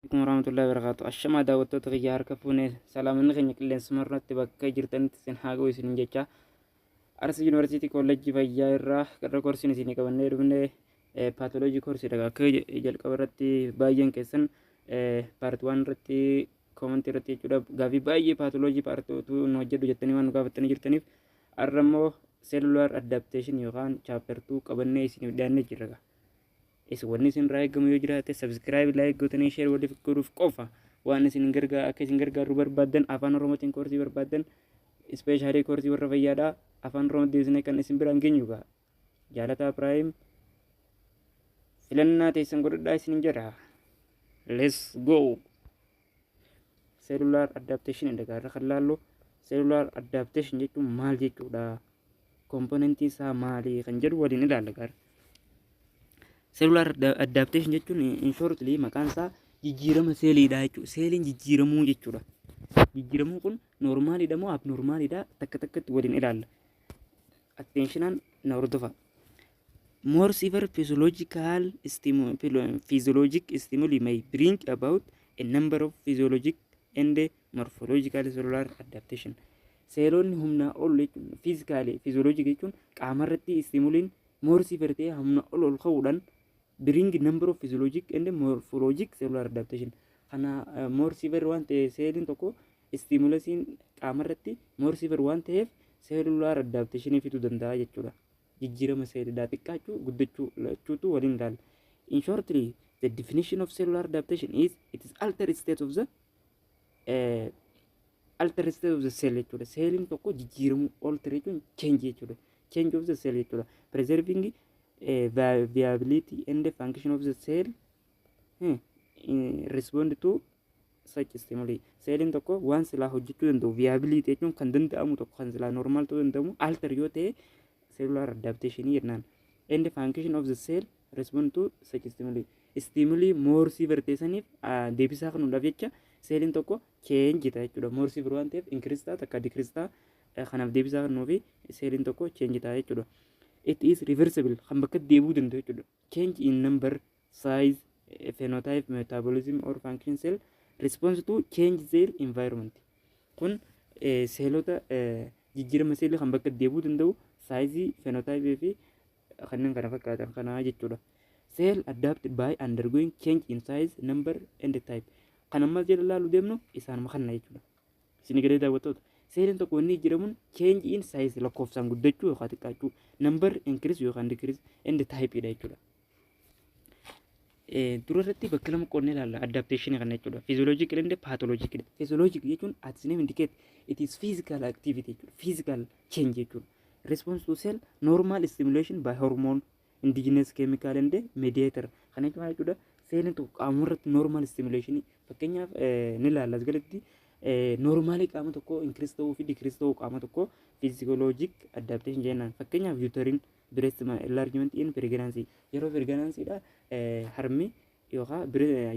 Alaikum warahmatullahi wabarakatuh. Ashamaa daawwattoota kiyya harka fuune salaamanni keenya qilleensuma irratti bakka jirtanitti isin haa ga'u isinin jecha. Arsi Yuunivarsiitii Koolleejjii Fayyaa irraa qarra koorsiin isinii qabannee dhufne paatoloojii koorsiidha. Akka jalqaba irratti baay'een keessan paarti waan irratti koomantii irratti jechuudha. Gaaffii baay'ee paatoloojii paarti utuu nu hojjedhu jettanii waan nu gaafattanii jirtaniif har'a immoo seelulaar addaapteeshin yookaan chaaptartuu qabannee isiniif dhiyaannee jirra. Is wanni isin irraa eegamu yoo jiraate subscribe like gootanii share waliif godhuuf qofa waan isin gargaa akka isin gargaarru barbaaddan afaan oromootiin koorsii barbaaddan ispeeshaalii koorsii warra fayyaadha afaan oromoo deebisnee kan isin biraan geenyu gaa jaalataa piraayim filannaa teessan godhadhaa isin jedha let's go Cellular adaptation and gaarra kan laallu cellular adaptation jechuun maal jechuudha? Komponentiin isaa maali kan jedhu waliin ilaalla gaara. Cellular adda- adaptation jechuun in shortly maqaan isaa jijjiirama seeliidha jechuudha. Seeliin jijjiiramuu jechuudha. Jijjiiramuu kun noormaaliidha moo abnoormaaliidha takka takkatti waliin ilaalla. Atteenshinaan na hordofa. More severe physiological stimu physiologic stimuli may bring about a number of physiologic and morphological cellular adaptation. Seelonni humnaa ol jechuun fiizikaalee fiiziyooloojii jechuun qaama irratti istimuliin more severe ta'ee humna ol ol ka'uudhaan bring number of physiologic and morphologic cellular adaptation. Kana eh, more severe waan ta'e seeliin tokko istimulasiin qaama irratti more severe waan ta'eef cellular adaptation fiduu danda'a jechuudha. jijjiirama seelidaa xiqqaachuu, guddachuu, lachuutu waliin laalla. In shortly, the definition of cellular adaptation is it is altered state of the eh, altered state of the cell jechuudha. Seeliin tokko jijjiiramuu alter jechuun change jechuudha. Change of the cell jechuudha. Preserving eh, vi- viability and function of the cell eh, in respond to such stimuli. Seeliin tokko waan silaa hojjechuu danda'u viability jechuun kan danda'amu tokko kan silaa normal ta'uu danda'amu alter yoo ta'e cellular adaptation jennaan. And function of the cell respond to such stimuli. Stimuli more severe ta'e saniif deebisaa kennuudhaaf jecha seeliin tokko change ta'a jechuudha. More severe waan ta'eef increase ta'a takka decrease ta'a kanaaf deebisaa kennuu fi seeliin tokko change ta'a jechuudha. It is reversible kan bakka deebi'uu danda'u jechuudha. Change in number, size, eh, phenotype, metabolism or function cell response to change their environment. Kun eh, seelota eh, jijjiirama seelii kan bakka deebi'uu danda'u saayizii, phenotype fi kanneen kana fakkaatan kanaa jechuudha. Cell adapt by undergoing change in size, number and type. Kan ammas jala ilaalu deemnu isaanuma kanna jechuudha. Isin egeree daawwattoota. Seereen tokko inni jijjiiramuun change in size lakkoofsaan guddachuu yookaan xiqqaachuu number increase yookaan decrease and type dha jechuudha. Dura irratti bakka lama qonnee ilaalla adaptation kana jechuudha. Physiological and pathological. Physiologic jechuun as name indicate it is physical activity jechuudha. Physical change jechuudha. Response to cell normal stimulation by hormone indigenous chemical and mediator kan jechuun maal jechuudha seelin tokko qaama irratti normal stimulation fakkeenyaaf eh, ni ilaalla as gaditti normaalii qaama tokko increase ta'uu fi decrease ta'uu qaama tokko physiologic adaptation jennaan fakkeenyaaf uterine breast enlargement in pregnancy yeroo pregnancy dha eh, harmi yookaan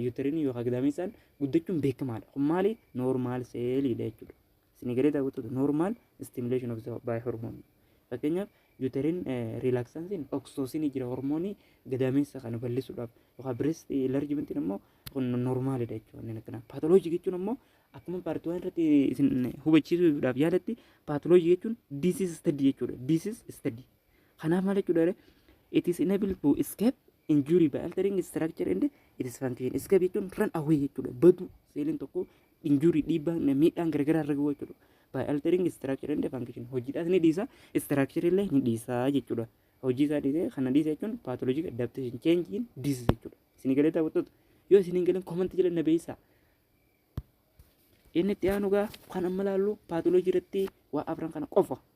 uterine yookaan gadaamessaan guddachuun beekamaadha kun maali normal seeliidha jechuudha Isin egeree daawwattoota normal stimulation of the by hormone. Fakkeenyaaf uterine relaxansin oksoosinii jira hormoonii gadaameessa kana bal'isuudhaaf yookaan breast enlargement immoo kun normaalidha jechuudha inni akkana. Paatoloojii jechuun immoo akkuma paartii waan irratti isin hubachiisuudhaaf yaalatti paatoloojii jechuun disease study jechuudha. Disease study. Kanaaf maal jechuudha? It is enable to escape injury by altering structure and its function. Escape jechuun run away jechuudha. Baduu seeliin tokko injury dhiibbaan miidhaan garagaraa irra gahuu jechuudha. By altering structure and function hojiidhaas ni dhiisa structure illee ni dhiisa jechuudha. Hojii isaa dhiisee kana dhiisa jechuun pathologic adaptation change in disease jechuudha. Isin galee daawwattoota yoo isin hin galeen comment jala na beeysaa. Inni itti aanu gaa kan amma laallu pathology irratti waa afran kana qofa.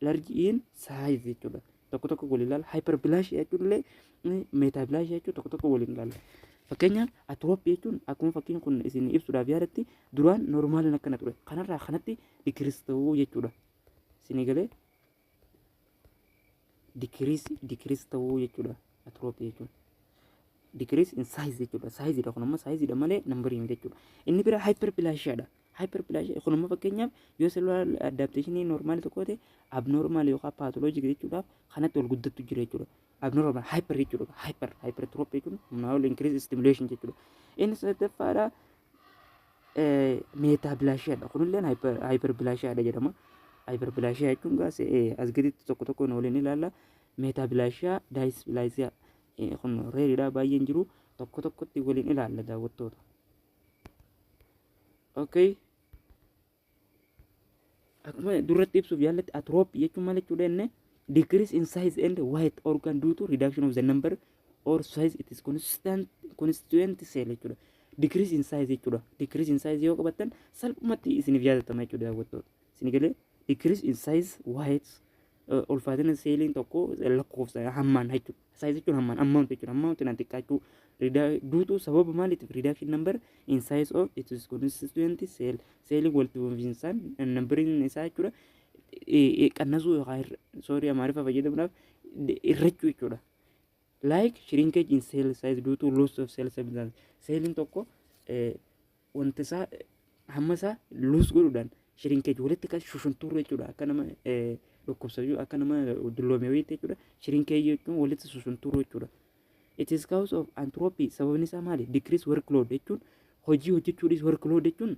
large in size jechuudha tokko tokko waliin ilaala hyper bilash jechuun illee meetaa bilash jechuun tokko tokko waliin ilaala fakkeenyaaf atroop jechuun akkuma fakkiin kun isin ibsuudhaaf yaadatti duraan normaaliin akkana ture kanarraa kanatti dikiris ta'uu jechuudha isin eegalee dikiris dikiris ta'uu jechuudha atroop jechuun dikiris in size jechuudha size dha kun amma size dha malee nambarii miti jechuudha inni bira hyper bilash dha Hyperplasia kun immoo fakkeenyaaf yoo cellular adaptation normal tokko ta'e abnormal yookaan pathologic jechuudhaaf kanatti ol guddattu jira jechuudha. Abnormal hyper jechuudha. Hyper hypertrophy jechuun humnaa ol increase stimulation jechuudha. Inni sadaffaadha metablasia dha. Kunillee hyperplasia dha jedhama. Hyperplasia jechuun gaas as gaditti tokko tokkoon waliin ilaalla. Metablasia dysplasia kun reeridha baay'een jiru tokko tokkotti waliin ilaalla daawwattoota. okay akkuma duratti ibsuuf yaallatti atrooppii jechuun maal jechuudha inni decrease in size and weight organ due to reduction of the number or size it is constant constituent cell jechuudha decrease in size jechuudha decrease in size yoo qabattan salphumatti isiniif yaadatama jechuudha daawwattoota isin galee decrease in size weight ulfaatina seeliin tokko lakkoofsa hammaan jechuudha. Saayis jechuun hammaan ammaawunti jechuudha. Ammaawunti na xiqqaachuu duutuu sababa maaliitiif riidaakshin nambar in saayis oof itis konsistuwenti seel seeliin walitti fufinsaan nambariin isaa jechuudha. Qannasuu yookaan soorii amaariffa fayyadamuudhaaf irrachuu jechuudha. Like shrinkage in cell size due to loss of cell substance. Seeliin tokko wanta isaa hamma isaa luus godhuudhaan shirinkage walitti kan shushuntuurra jechuudha akka nama dhukkubsatu akka nama dulloome wayiitti jechuudha shirinkage jechuun walitti shushuntuurra jechuudha. It is cause of anthropy sababni isaa maali decrease workload jechuun hojii hojjechuu dhiis workload jechuun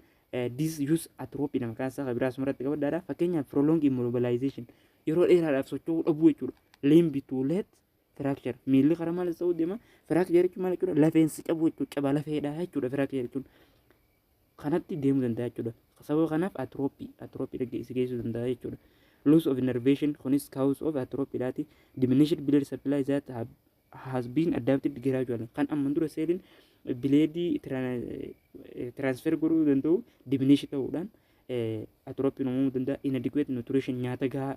this use atrophy nama kaasa kan biraa sumarratti qabadhaadha fakkeenyaaf prolong immobilization yeroo dheeraadhaaf socho'uu dhabuu jechuudha limb to let Firaakchar. Miilli karaa maal ta'uu deema? Firaakchar jechuun maal jechuudha? Lafeen si cabuu jechuudha. Caba lafeedha jechuudha firaakchar jechuun. Kanatti deemuu danda'a jechuudha. Sababa kanaaf atirooppii atirooppii si geessuu danda'a jechuudha. Loss of innervation kunis cause of atrophy dhaati. Diminished blood supply that have, has been adapted gradually. Kan amma dura seeliin bileedii transfer godhuu danda'u diminish ta'uudhaan atirooppii uumamuu danda'a. Inadequate nutrition nyaata gahaa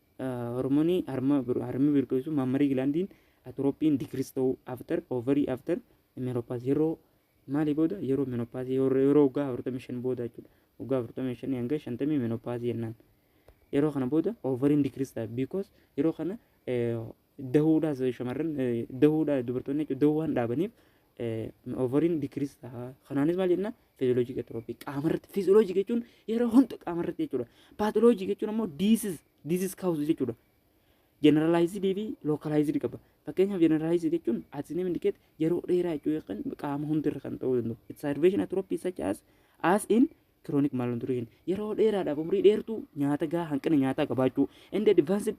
Hormonii harma harmi birqilsu maammarii gilaandiin atiroophiin digiriis ta'uu after ovarii after menopause yeroo maalii booda yeroo menopause yeroo waggaa afurtamii shan booda jechuudha waggaa afurtamii shanii hanga shantamii menopause jennaan yeroo kana booda ovariin digiriis ta'a because yeroo kana dahuudhaas shamarran dahuudha dubartoonni jechuudha dahuu waan dhaabaniif ovariin dikiriis ta'a. Kanaanis maal jenna fiiziyooloojii qexroopii qaamarratti fiiziyooloojii jechuun yeroo hunda qaamarratti jechuudha. Paatoloojii jechuun ammoo diisiis diisiis kaawusu jechuudha. Jeneralaayizidii fi lookalaayizidii qaba. Fakkeenyaaf jeneralaayizidii jechuun asiin indikeet yeroo dheeraa jechuu yookaan qaama hundirra kan ta'uu danda'u. It's salvation atrophy such as as in chronic malnutrition yeroo dheeraadhaaf umrii dheertuu nyaata gahaa hanqina nyaataa qabaachuu and advanced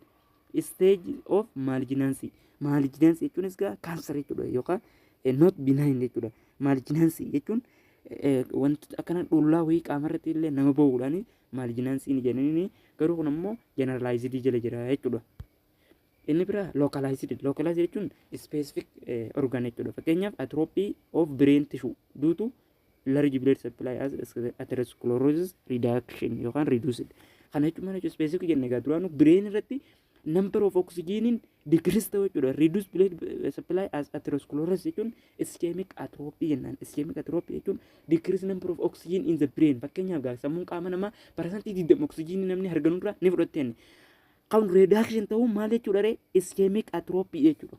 stage of malignancy malignancy jechuunis gaa kaanser jechuudha yookaan eh, not benign jechuudha malignancy jechuun eh, wantoota akkana dhullaa wayii qaama irratti illee nama ba'uudhaan malignancy ni jedhanii garuu kun ammoo generalized jala jira jechuudha. Inni biraa localized localized jechuun specific eh, organ jechuudha fakkeenyaaf atrophy of brain tissue duutu large blood supply as atherosclerosis reduction yookaan reduced kana jechuun mana jechuun specific jenne egaa duraanuu brain irratti number of oxygen decrease ta'uu jechuudha reduced blood supply as atherosclerosis jechuun ischemic atrophy jennaan ischemic atrophy jechuun decrease number of oxygen in the brain fakkeenyaaf gaa sammuun qaama namaa parsantii 20 oxygen namni harganurraa ni fudhatte kan reduction ta'uu maal jechuudha ree ischemic atrophy jechuudha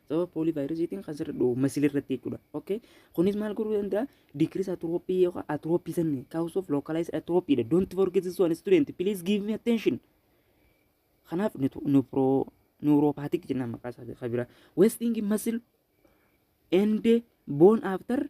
sababa poolii vaayirasiitiin kan sirra dhoobu masili irratti jechuudha. Okay? Kunis maal godhuu danda'a? Decrease atrophy yookaan atrophy sanni cause of localized atrophy dha. Don't forget this one student. Please give me attention. Kanaaf nupro neuropathic jennaan maqaa isaa kan biraa. Wasting muscle and bone after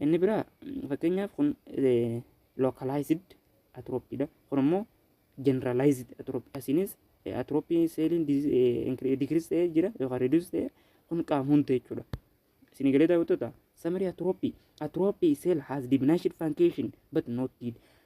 Inni biraa fakkeenyaaf kun localized atrophy dha. Kun immoo generalized atrophy. Asiinis atrophy seeliin decrease ta'ee jira yookaan reduce ta'ee kun qaama hunda jechuudha. Isin galee daawwattoota summary atrophy. Atrophy cell has diminished function but not dead.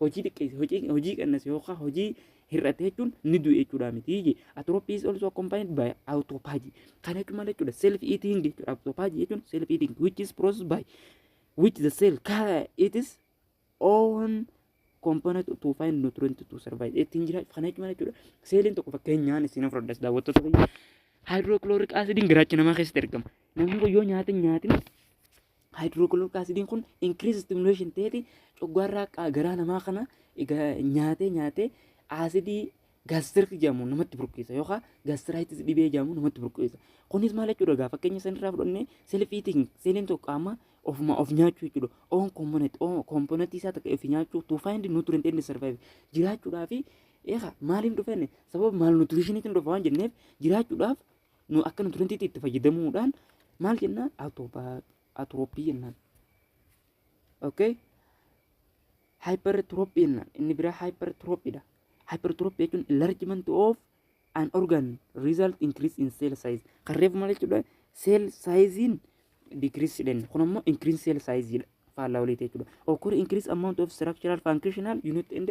hojii xiqqeesse hojii hojii qannase yookaan hojii hir'ate jechuun ni du'e jechuudha miti je atrophy is also accompanied by autophagy kana jechuun maal jechuudha self eating jechuudha autophagy jechuun self eating which is processed by which the cell ca- it is own component to find nutrient to survive ittiin jira kana jechuun maal jechuudha seeliin tokko fakkeenyaan isin fudhadhas daawwattoota biyya hydrochloric acidiin garaacha namaa keessatti argama namni kun yoo nyaata hin nyaatin haayidirookilooriik asidiin kun inkiriis istimuleeshin ta'eeti coggaarraa qaa garaa namaa kana egaa nyaatee nyaatee aasidii gaastirri jedhamu namatti burqeessa yookaan gaastiraayitis dhibee jedhamu namatti burqeessa. Kunis maal jechuudha egaa fakkeenya sanirraa fudhannee self eating seeliin tokko qaama ofuma of nyaachuu jechuudha. Oon komponent oon komponentii isaa takka of nyaachuu to find nutrient and survive jiraachuudhaa fi eegaa maaliin dhufenne sababa maal nutriishiniitiin dhufa waan jenneef jiraachuudhaaf nu akka nutrientiitti itti fayyadamuudhaan maal jennaan atropii jennaan okay hypertrophy jennaan inni biraa hypertrophy dha hypertrophy jechuun enlargement of an organ result increase in cell size kan reefu maal jechuudha cell sizein decrease jedhan kun ammoo increase cell size dha faallaa waliiti jechuudha occur increase amount of structural functional unit and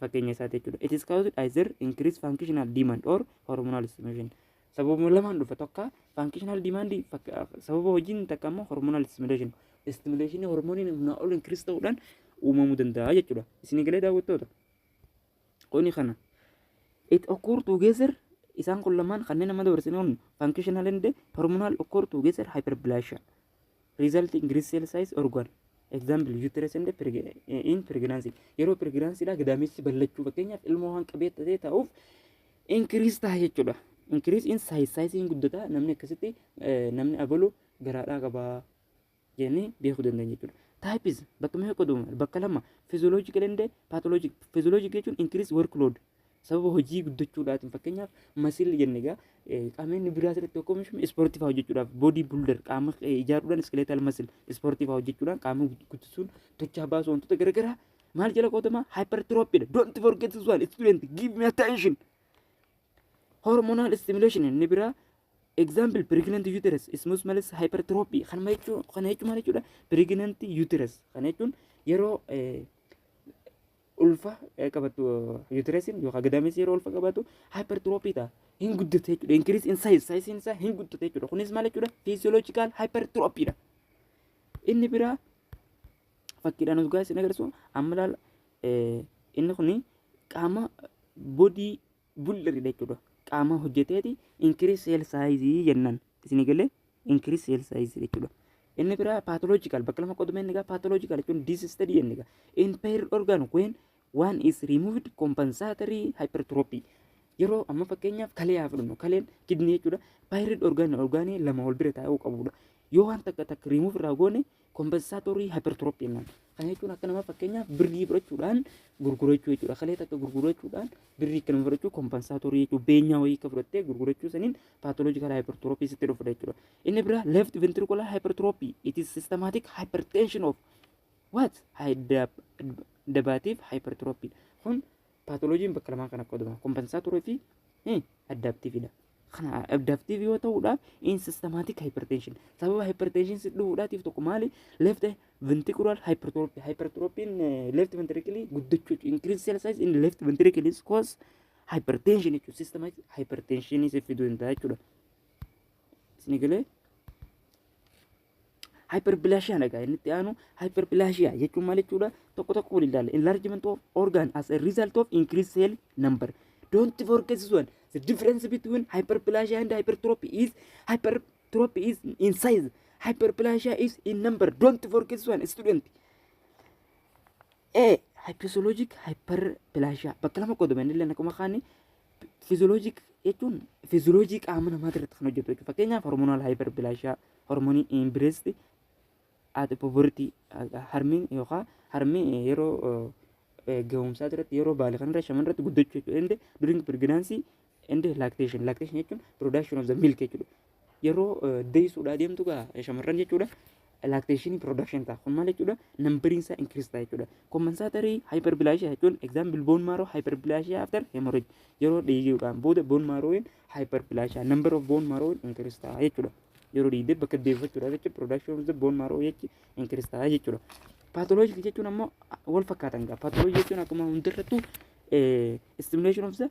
fakkeenya isaati jechuudha. It is caused either increased functional demand or hormonal stimulation. Sababuma lamaan dhufa tokko functional demand sababa hojiin takka immoo hormonal stimulation. Stimulation hormoniin humnaa ol increase ta'uudhaan uumamuu danda'a jechuudha. Isin galee daawwattoota. Kuni kana. It occur together isaan kun lamaan kanneen nama dabarsine kun functional and hormonal occur together hyperplasia. result in great cell size organ example uterus and preg in pregnancy yeroo pregnancy dha gadaameessi ballachuu fakkeenyaaf ilmoo waan qabee ta'ee ta'uuf increase ta'a jechuudha increase in size size hin guddata namni akkasitti eh, namni abalu garaadhaa qabaa jennee beekuu dandeenya jechuudha. Taayipis bakka meeqa qoodama? Bakka lama. Fizooloojikal and paatoloojik. Fizooloojik jechuun inkiriis workload. sababa hojii guddachuudhaatiin fakkeenyaaf masiilli jenne egaa qaamni biraa asirratti tokko omishuun ispoortii fa'aa hojjechuudhaaf boodii buldar qaama ijaaruudhaan iskeleetal masil ispoortii fa'aa hojjechuudhaan qaama guddisuun tochaa baasuu wantoota garaagaraa maal jala qoodama hypertrophiidha don't forget this one student give me attention hormonal stimulation inni biraa example pregnant uterus smooth malis hypertrophy kan jechuun kan jechuun maal jechuudha pregnant uterus kan jechuun yeroo ulfa eh, qabattu uteresin yookaan gadaamessi yeroo ulfa qabattu hypertrophy ta'a. Hin guddate jechuudha. Increase in size. Size isaa hin guddate jechuudha. Kunis maal jechuudha? Physiological hypertrophy dha. Inni biraa fakkiidhaan dhugaa isin agarsiisu amma ilaala eh, inni kuni qaama bodii bulleri dha jechuudha. Qaama hojjeteeti increase cell size jennan isinii galee increase cell size jechuudha. Inni biraa pathological bakka lama qoduma inni egaa pathological jechuun disease study inni egaa impaired organ when one is removed compensatory hypertrophy yeroo amma fakkeenyaaf kalee haa fudhannu kaleen kidnii jechuudha pairid orgaan orgaanii lama wal bira taa'uu qabudha yoo waan takka takka rimuuf irraa goone Kompensaatorii hypertrophy man. Kana jechuun akka nama fakkeenyaaf birrii fudhachuudhaan gurgurachuu jechuudha. Kalee takka gurgurachuudhaan birrii akka nama fudhachuu kompensaatorii jechuudha. Beenyaa wayii akka fudhattee gurgurachuu saniin pathological hypertrophy sitti dhufudha jechuudha. Inni biraa left ventricular hypertrophy. It is systematic hypertension of what? High dab- dabaatiif hypertrophy. Kun Paatoloojiin bakka lamaan kan akka qoodama. Kompensaatorii fi addaaptiiviidha. Kana addaaptiivii yoo ta'udha in systematic hypertension. Sababa hypertension si dhufuudhaatiif tokko maali? Left ventricular hypertrophy. Hypertrophiin left ventricle guddachuu jechuudha. Increased cell size in left ventricle is cause hypertension jechuudha. Systematic hypertension si fiduu danda'a jechuudha. Isin galee? Hyperplasia na gaa inni itti aanu hyperplasia jechuun maal jechuudha tokko tokko waliin ilaalla enlargement of organ as a result of increased cell number don't forget this one the difference between hyperplasia and hypertrophy is hypertrophy is in size hyperplasia is in number don't forget this one student A hypothalamic hyperplasia bakka lama qoodame inni illee akkuma kaani fiziyooloojii jechuun fiziyooloojii qaama namaa irratti kan hojjetu jechuudha. Fakkeenyaaf hormonaal haayiperbilaashiyaa, hormonii imbireesti, ati poverty harmeen yookaan harmee yeroo gahumsaa irratti yeroo baale kan irra shaman irratti guddachuu jechuudha. Inde during pregnancy and lactation. Lactation jechuun production of the milk jechuudha. yeroo deessuudhaa deemtu gaa shamarran jechuudha. Lactation production ta'a. Kun maal jechuudha? Nambariin isaa increase ta'a jechuudha. Compensatory hyperplasia jechuun example bone marrow hyperplasia after hemorrhage. Yeroo dhiiguudhaan booda bone marrow hyperplasia number of bone marrow increase ta'a jechuudha. Yeroo dhiigde bakka deeffachuudha jechuudha. Production of the bone marrow jechi increase ta'a jechuudha. Pathologic jechuun ammoo wal fakkaatan gaa. Pathology jechuun akkuma hundarrattuu stimulation of the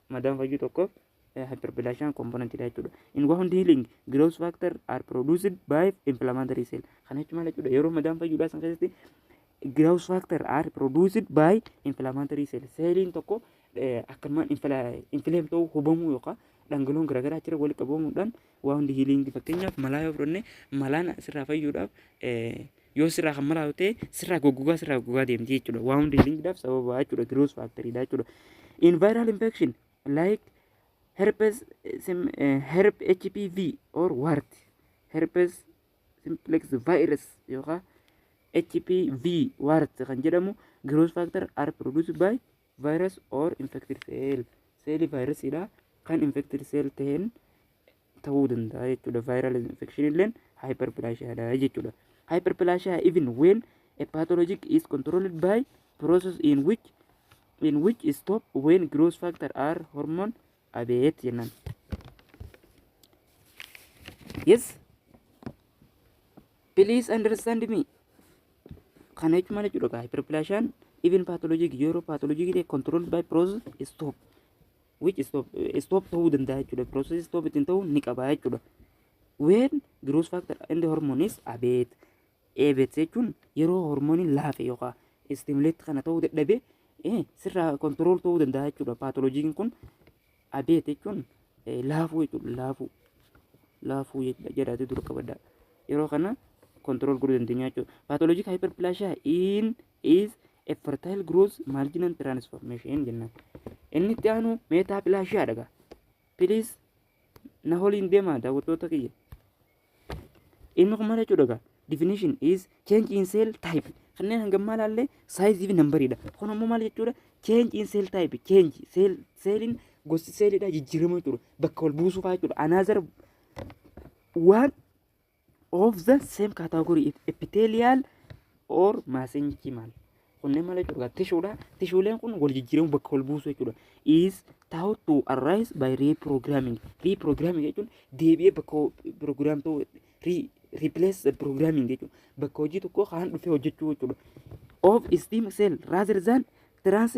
madaan fayyuu tokko hyperplasia component dha jechuudha. In wound healing, growth factor are produced by inflammatory cell. Kana jechuun maal jechuudha? Yeroo madaan fayyuudhaa san keessatti growth factor are produced by inflammatory cell. Seeliin tokko akkanumaan inflamed ta'uu hubamuu yookaan dhangala'oon garaagaraa achirra walitti qabamuudhaan Waa hundi hiiliingi fakkeenyaaf malaa yoo fudhanne malaan sirraa fayyuudhaaf yoo sirraa kan malaa ta'e sirraa goggogaa sirraa goggogaa deemti jechuudha. Waa hundi hiiliingiidhaaf sababa jechuudha giroos faakteriidha jechuudha. In viral infection like herpes sim, uh, herp HPV or wart herpes simplex virus yookaan HPV wart kan jedhamu giroos faakter are produced by virus or infected cell seelii vaayirasiidha kan infected cell ta'een ta'uu danda'a jechuudha viral infection illeen hyperplasia dha jechuudha hyperplasia even when a pathologic is controlled by process in which in which stop when growth factor are hormone Abeet jennaan. Yes. Please understand me. Kana jechuun maal jechuudha? Hyperplasia even pathologic yeroo pathologic ta'e controlled by process stop. Which stop stop ta'uu danda'a jechuudha. Process stop ittiin ta'uu ni qaba jechuudha. When growth factor and hormone is abate. Eebet jechuun yeroo hormooniin laafe yookaan istimuleetti kana ta'uu dadhabee sirraa kontirool ta'uu danda'a jechuudha. Paatoloojiin kun abeet jechuun laafuu jechuudha. Laafuu laafuu jedhaatee dura qabadha. Yeroo kana kontirool godhuu dandeenya jechuudha. Paatoloojii haayiperpilaashiyaa in is a fertile growth marginal transformation jennaan. Inni itti aanu meetaapilaashiyaa dhagaa. Please na holiin deemaa daawwattoota kiyya inni kun maal jechuudha egaa definition is change in cell type kanneen hanga ammaa ilaallee saayizii fi nambariidha kun ammoo maal jechuudha change in cell type change cell seeliin gosti seeliidha jijjiirama jechuudha bakka wal buusuu fa'aa jechuudha another waan of the same category if epithelial or mesenchymal kunneen malee jechuudha tishuudha tishuuleen kun wal jijjiiramu bakka wal buusu jechuudha is tahu to arise by reprogramming reprogramming jechuun deebi'ee bakka program ta'u replace the programming jechuudha bakka hojii tokko kaan dhufee hojjechuu jechuudha of stem cell rather than trans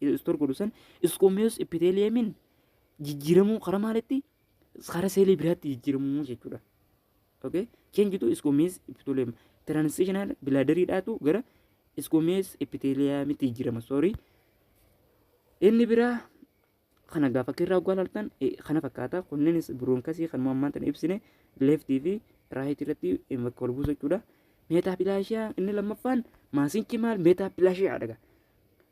istor godhu san isqumeus epitheliumin jijjiiramuu karaa maalitti karaa seelii biraatti jijjiiramuu jechuudha. Okay? Change to isqumeus epithelium. Transitional bladder dhaatu gara isqumeus epitheliumitti jijjiirama. Sorry. Inni biraa kana gaafa akka irraa oggaa laaltan eh, kana fakkaata. Kunneenis biroonkasii kan ammaan tana ibsine leeftii fi raayitii irratti eh, bakka wal buusu jechuudha. Meetaapilaashiyaa inni lammaffaan maasiin cimaan meetaapilaashiyaa dhaga.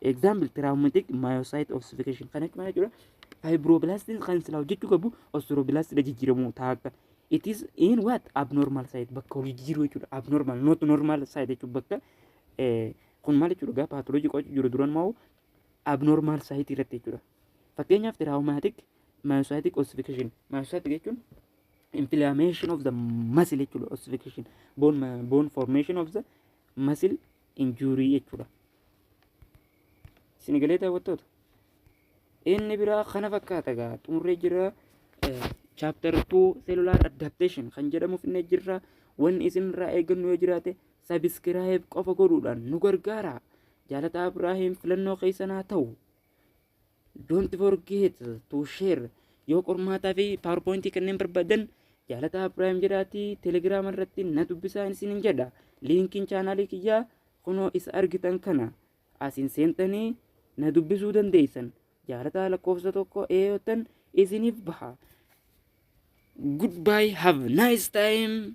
Example traumatic myocyte ossification kan jechuun jechuudha. Fibroblastin kan silaa hojjechuu qabu osteoblastin jijjiiramu taakka. It is in what abnormal site bakka hojii jijjiiruu jechuudha. Abnormal not normal site jechuun bakka kun maal jechuudha gaa paatoloojii qo'achuu jiru duran moo abnormal site irratti jechuudha. Fakkeenyaaf traumatic myocytic ossification myocytic jechuun inflammation of the muscle jechuudha ossification bone bone formation of the muscle injuurii jechuudha. Isin galee daawwattoota. Inni biraa kana fakkaata egaa xumurree jira. Chapter 2 cellular adaptation kan jedhamu finnee jirra. Wanni isinirraa eegannu yoo jiraate sabiskiraayib qofa godhuudhaan nu gargaara. Jaalataa Ibraahiim filannoo keessan haa ta'u. Don't forget to share. Yoo qormaataa fi PowerPoint kanneen barbaadan jaalataa Ibrahim jedhaatii Telegram irratti na dubbisaa isin hin jedha. Liinkiin chaanaalii kiyyaa kunoo isa argitan kana asiin seentanii na dubbisuu dandeessan. Jaalataa lakkoofsa tokko eeyotan isiniif baha. Goodbye, have a nice time.